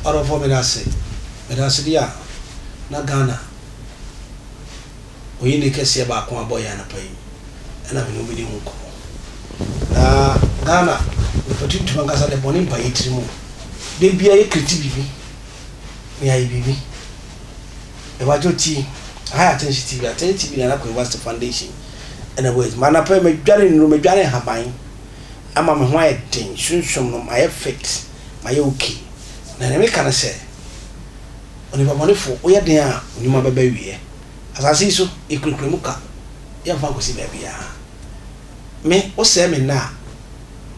ɔdɔfoɔ meda ase meda ase bi a na ghana oyi ne kɛseɛ baako abɔ yɛ anapa yi ɛna mene wobɛdi ho nkɔmmɔ na ghana mepɛtu ntuma nkasa de bɔne mpa yɛ tiri mu da bia yɛ kriti biribi yɛayɛ biribi. Yɛbagye ti, aha yɛ Atɛnhye TV, Atɛnhye TV Nana Kwame Bassey Foundation ɛna ɛbɔ yɛ dwuma. Anapa yi madware nnuro, madware nhaban ama me ho ayɛ den, sunsum no mayɛ fit, mayɛ ok. Na nea meka ne sɛ, onipa bɔnefo, woyɛ den a, wo nnwuma bɛba awieɛ. Asase yi so, yɛkurakura mu ka, yɛmfa nkɔsi baabiara. Me, wosɛe me nna a,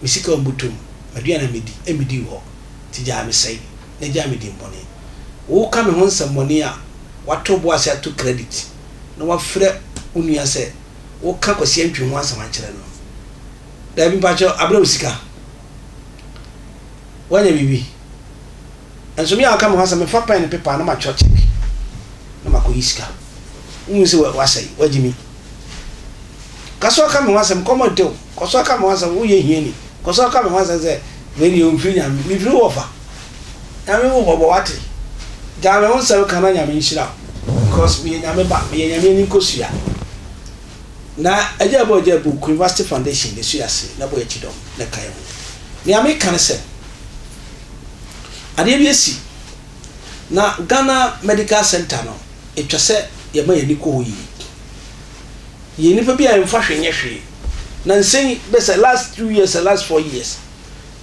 me sika a ɔmmutom, m'aduane a medi, ɛmmedi wo hɔ. nti gyaa me sɛe na gyaa me dimmɔne. Woka me ho nsɛmmɔne a, woato bo ase ato credit na woafrɛ wo nua sɛ woka Kwasi Antwi ho asɛm akyerɛ no. Daabi mpakyɛw, abrɛ wo sika. Woanya biribi. Nanso me a woka me ho asɛm, mefa pɛn ne pepa na matwerɛ check na makɔyi sika. Wohu sɛ woasɛe, woagye me. Ka sɛ woka me ho asɛm, nkɔmmɔ ntew. Kɔ so ka me ho asɛm, woyɛ hiani. Kɔ so ka me ho asɛm sɛ, Wei deɛ ɔmfiri Nyame. Mefiri wo wɔfa. Nyame hu mmɔbɔ, wate? Gyae me ho nsɛm ka na Nyame nhyira wo because meyɛ Nyame ba, meyɛ Nyame ani nkosua. Na agya bu agya bu, Queen Vashti Foundation na ɛsui aseɛ na Boakyi dɔm na ɛka yɛn ho. Nea meka ne sɛ, adeɛ bi asi na Ghana Medical Centre no, ɛtwa sɛ yɛma yɛn ani kɔ hɔ yie. Yɛn nnipa bi a yɛmfa hwee nyɛ hwee. Nansa yi bɛ sɛ last two years ɛ last four years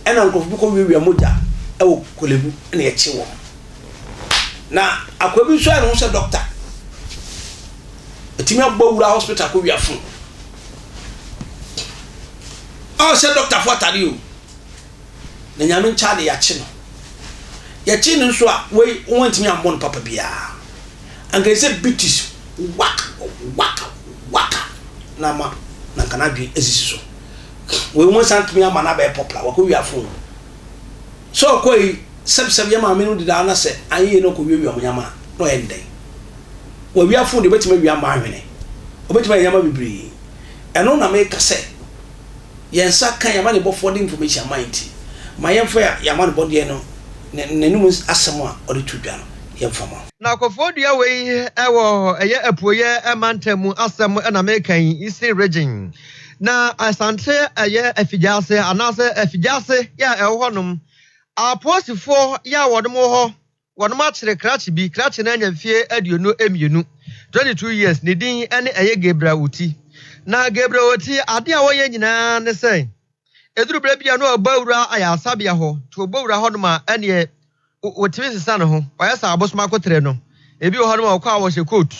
ɛna nkorɔfo bi kɔ wiawia mogya ɛwɔ Korlebu ɛna yɛkye wɔn. Na akoa bi nso ayɛ ne ho sɛ dɔkta. Ɛtumi abɔ wura hospital akɔ wia fon. Ɔhyɛ dɔkta fo atade o. Na nyame nkyɛ ade yɛakye no. Yɛkye no nso a wei wɔn antumi ammɔ no papa biara. anka ɛsɛ sɛ Beatrice waka waka waka na ama na anka n'adwene asisi so. Wei wɔnsan ntumi ama no abɛyɛ popular, wakɔwia phone. Sɛ ɔkɔe yi, sɛbsɛb yɛ maame no dedaa na sɛ anyɛ yie na ɔkɔwiawia wɔn nneɛma a, na ɔyɛ no dɛn? Wawia phone deɛ, ɔbɛtumi awia mmaa nhwene, ɔbɛtumi ayɛ nneɛma bebree. Ɛno na meka sɛ, yɛn nsa ka yɛn amanebɔfoɔ de information ama yɛn nti, ma yɛmfa yɛn amanebɔdeɛ no, n'anom asɛm a ɔde to dwa no, yɛmfa ma. Na kɔfoɔ dua wei wɔ ɛyɛ apueɛ mantam mu asɛm na meka yi, Eastern Region. Na Asante ɛyɛ Afigyaase anaasɛ Afigyaase yɛ a ɛwɔ hɔ nom, Apoosifoɔ yɛ a wɔnom wɔ hɔ, wɔnom akyere krakye bi, krakye no anya mfie aduonu mmienu, 22 years, ne din ɛne ɛyɛ Gabriel Oti. Na Gabriel Oti adeɛ a wɔyɛ nyinaa ne sɛ Ɛduru berɛ bi a na ɔbɔ awura ayaresabea hɔ, nti ɔbɔ wura hɔ nom a, ɛneɛ wɔtumi sesa ne ho, wɔayɛ sɛ abosom akoterɛ no. Ebi wɔ hɔ nom a wɔkɔ a wɔhyɛ coat,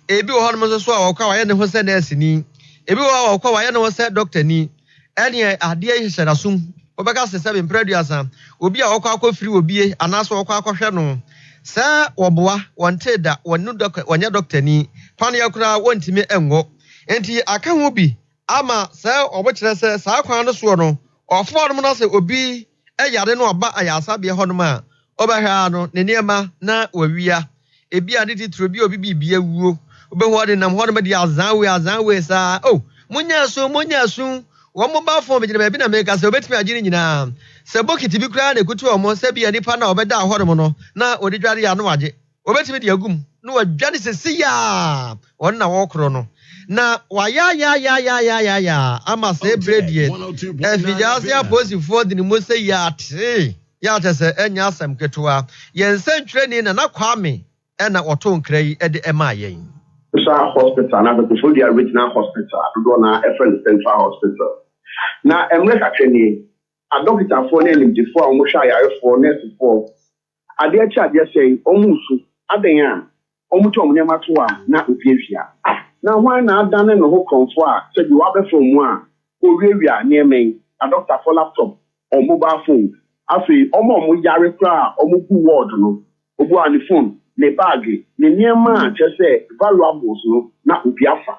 ebi wɔ hɔ nom nso so a wɔkɔ a wɔayɛ ne ho sɛ nɛɛseni, ebi wɔ hɔ a wɔkɔ a wɔayɛ ne ho sɛ dɔktani. Ɛneɛ adeɛ yi hyɛ n'asom. Wobɛka sɛ sɛbe mprɛ aduasa, obi a wɔkɔ akɔfiri obie anaasɛ wɔkɔ akɔhwɛ no sɛ wɔboa, wɔntee da, wɔnnu dɔk, wɔnyɛ dɔktani, paneɛ koraa wɔntumi nwɔ. Enti aka ho bi Ama sɛ wɔkyerɛ sɛ saa kwan no soɔ no ɔfo hɔ nom na sɛ obi yare na ɔba ayaresabea hɔ nom a wɔbɛhwɛ ara no ne nneɛma na wɔawia ebia ne titire bi a obi biribi awuo wobɛhu ɔde nam hɔ nom de azan wei azan wei saa oh monyɛ asu monyɛ asu wɔn mo ba fon megyina baabi na meka sɛ wɔbɛtumi agye ne nyinaa sɛ bokiti bi koraa na ɛkutu wɔn sɛ bia nipa no a wɔbɛdaa hɔ nom no na wɔde dware a na wɔagye Wɔbɛtumi de agu mu na wɔadwane sesei ara, wɔn na wɔrekorɔ no, na wɔayaayaayaayaayaayaa ama saa bire deɛ afiase apolisifoɔ de ne mu sɛ yɛatee yɛ a kyerɛ sɛ ɛnyɛ asɛm ketewa. Yɛn nsɛntwerɛni Nana Kwame na ɔtoo nkra yi de maa yɛn. Sa Hospital, anaasɛ Koforidua Regional Hospital a dodoɔ no ara frɛ no Central Hospital. Na mmerɛ kakra nie, adɔkotafoɔ ne animdefoɔ a wɔhwɛ ayarefoɔ, nɛɛsefoɔ, Adeɛ kye adeɛ sɛe, wɔresu, adɛn a, wɔtwa wɔn nneɛma to a, na owiawia. Na hwan na adane ne ho korɔmfoɔ a sɛdeɛ wɔabɛfa wɔn a wɔwiawia nneɛma yi, adɔkotafoɔ laptop, wɔn mobile phones, afei wɔn a wɔyare koraa a wɔgu ward no, obiara ne phone, ne baage, ne nneɛma a kyerɛ sɛ valuables no, na obi afa.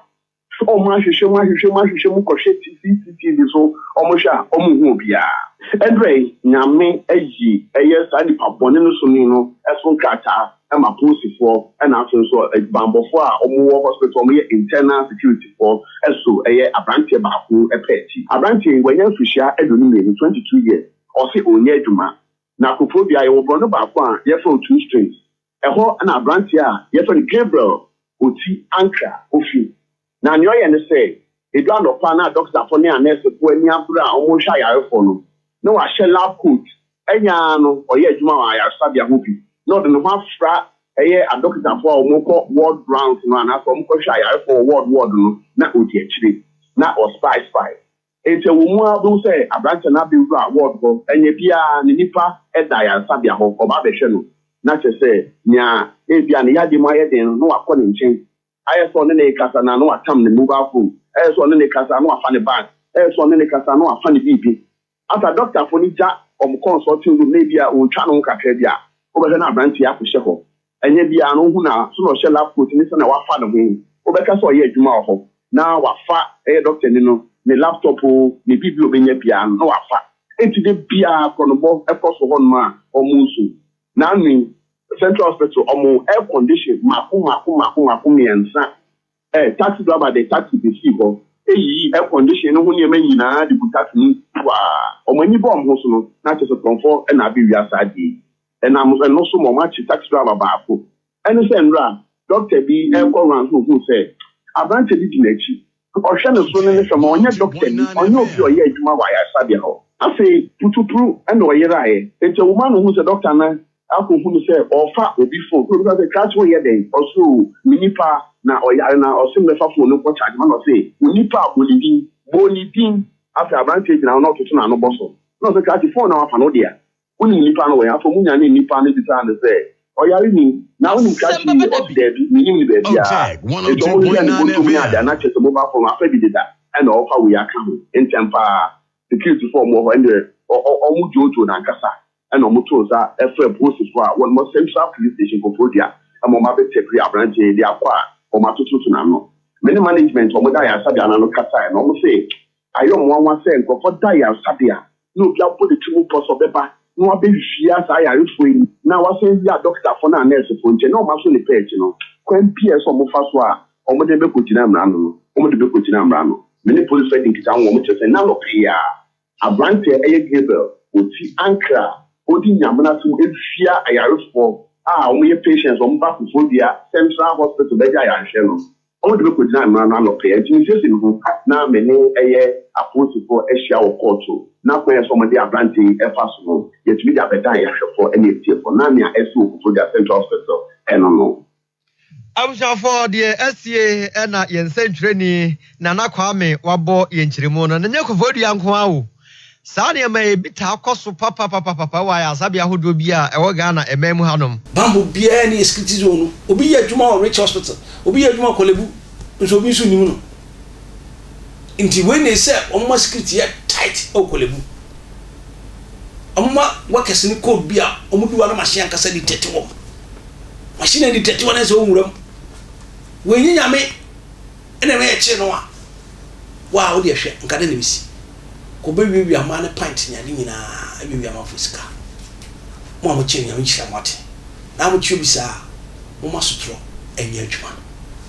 Sɛ wɔn ahwehwɛ mu ahwehwɛ mu ahwehwɛ mu kɔhwɛ CCTV so wɔn hwɛ a wɔn nhu obiara. Ɛnrɛ Nyame ayi ɛyɛ saa nipa bɔne no so ni no so nkrataa ɛma polisifoɔ ɛna afei nso adwubanbɔfoɔ a wɔn wɔ hospital wɔn yɛ internal security foɔ ɛso ɛyɛ abranteɛ baako pɛ akyi. Abranteɛ yi wanya mfirihyia aduonu mmienu, 22 years, ɔse ɔnyɛ adwuma na kofoɔ dua yɛwɔ borɔno baako a yɛfrɛ no two strings Ɛhɔ na aberanteɛ a yɛfrɛ no Gabriel Koti Ankra fi. Na nea ɔyɛ ne sɛ, ɛdu anɔpa na dɔketafoɔ ne anɛɛsefoɔ ani abere a wɔrehwɛ ayarefoɔ no, na wahyɛ lab coat, ɛnyɛ ara no ɔyɛ adwuma wɔ ayaresabea hɔ bi, na ɔde ne ho afra ɛyɛ adɔketafoɔ a wɔkɔ ward rounds no anaasɛ wɔkɔhwɛ ayarefoɔ wɔ ward ward no, na ɔdi akyire, na ɔspy spy. Enti ɛwɔ mu ara wobɛhu sɛ aberanteɛ no abɛwura ward hɔ, ɛnyɛ biara ne nipa da ayaresabea hɔ, ɔba abɛhwɛ no na kyerɛ sɛ nea ebia ne yadeɛ mu ayɛ den no na wakɔ ne nkyɛn, ayɛ sɛ ɔne no rekasa na na watam ne mobile phone, ayɛ sɛ ɔne no rekasa na wafa ne bag, ayɛ sɛ ɔne no rekasa na wafa ne biribi. After dɔktafoɔ no gya wɔn consulting room na ebia wɔtwa no ho kakra bi a, wobɛhwɛ na aberanteɛ akɔhyɛ hɔ. Ɛnyɛ biara na ohu no a, so na ɔhyɛ lab coat ne sɛnea wafa ne ho. Wobɛka sɛ ɔyɛ adwuma wɔ hɔ na wafa ɛyɛ dɔktani no ne laptop oo, ne biribi a obenya biara no na wafa. Enti da biara korɔnobɔ kɔ so hɔnom a wɔresu. Naanu yi, Central Hospital, wɔn air condition mmaako mmaako mmaako mmaako mmiɛnsa Ɛ, taxi driver de taxi besii hɔ, yiyii air condition no ho nneɛma nyinaa de guu taxi no mu kuaa. Wɔn ani bɔɔ wɔn ho so no, na kyerɛ sɛ korɔmfɔ na abewia saa ade yi. Ɛnam ɛno so ma wɔakye taxi driver baako. Ɛne sɛ nnora dɔkta bi rekɔ rounds na ohuu sɛ aberante bi di n'akyi. Ɔhwɛ ne soro ne ne fam a, ɔnyɛ dɔktani, ɔnyɛ obi a ɔyɛ adwuma wɔ ayaresabea hɔ. Afei, putupuruw na ɔyerae. Enti awumaa no hui sɛ dɔkta no Akɔ hu no sɛ ɔɔfa obi fon na obisa no sɛ Krass wo yɛ dɛn ɔse oo me nipa na ɔyare na ɔse me bɛfa fon no nkɔ charge ma na ɔse wo nipa a bɔ ne din bɔ ne din afei abranteɛ gyina hɔ na ɔtoto na ano bɔ so na ɔse Krass fon na wafa no wodea wonim nipa no wɛn afei ɔmo nyanee nipa no bisaa no sɛ ɔyare ni na wonim Krass yi yɛ ɔse daabi me nim no baabiaa enti ɔmo hwehwɛɛ no bɔtɔm ne adeɛ a na kyɛsɛ mobile fon wafa bi deda ɛna ɔɔfa wei aka ho ntɛm paa security foɔ ɔmo wɔ hɔ ɛndeɛ ɔmo dwoodwoo no ankasa na wɔtoo nsa frɛɛ polisifo a wɔwɔ Central Police Station Koforidua ma wɔabɛtapiri aberante yi de akɔ a wɔatototo n'ano. Me ne management a wɔda ayaresabea no ano kasae no, wɔse ayɛ wɔn nwanwa sɛ nkurɔfo da ayaresabea na obi abɔ ne ti mu pɔ sɛ ɔbɛba na wabehyia saa ayarefo yi na wasan awie adɔkotafo no anaa nɛɛsefo nkyɛn na wɔaso ne pɛɛkye no. Kwan biara a ɛsɛ sɛ wɔfa so a wɔde no bɛkogyina mmara ano no, wɔde bɛkogyina mmara ano. Me ne polisifo adi nkitaho wɔ wɔn kyerɛwsɛm no anɔpa yi ara. Aberante a ɛyɛ Gabriel ɔti ankra a ɔdi Nyamena som ɛsia ayarefoɔ a wɔyɛ patients wɔn ba Koforidua central hospital bɛgya ayarehwɛ no wɔde bɛkɔgyina mmara no ano pɛɛ nti mesiesie me ho na me ne ɛyɛ apolisifoɔ ahyia wɔ kɔɔto na kwan a ɛsɛ sɛ wɔde aberante yi ɛfa so no yɛtumi de abɛdan yɛahwɛfoɔ ne atiefoɔ na nea ɛsi wɔ Koforidua central hospital ɛno no Abusuafo deɛ asie na yɛn nsɛntwerɛni Nana Kwame wabɔ yɛn nkyerɛmu no. Na nyɛ Koforidua nko ara o. Saa nneɛma yi bi taa kɔ so papapapapa wɔ ayaresabea ahodoɔ bi a ɛwɔ Ghana man mu hanom. Bammɔ biara nni Askriti zone no. Obi yɛ adwuma wɔ Rich Hospital, obi yɛ adwuma wɔ Korlebu nso obi nso nnim no. Nti wei na ɛsi sɛ wɔma security yɛ tight wɔ Korlebu. Wɔma workers no code bi a wɔde wɔn anom ahyɛ ankasa dictate wɔn. W'ahyɛn adi tɛtewa na sɛ wɔ nwura mu. W'anyi Nyame ɛna ɛma yɛkyee no a, wo a wodeɛ hwɛ nka dɛn na ɛbɛsi? Kɔ bɛ wiawia mmaa ne pint ne ade nyinaa wiawia amanfoɔ sika. Mo a mokyee no Nyame nhyira mo ate. Na a mokye obi saa a, momma sotorɔ nyɛ adwuma.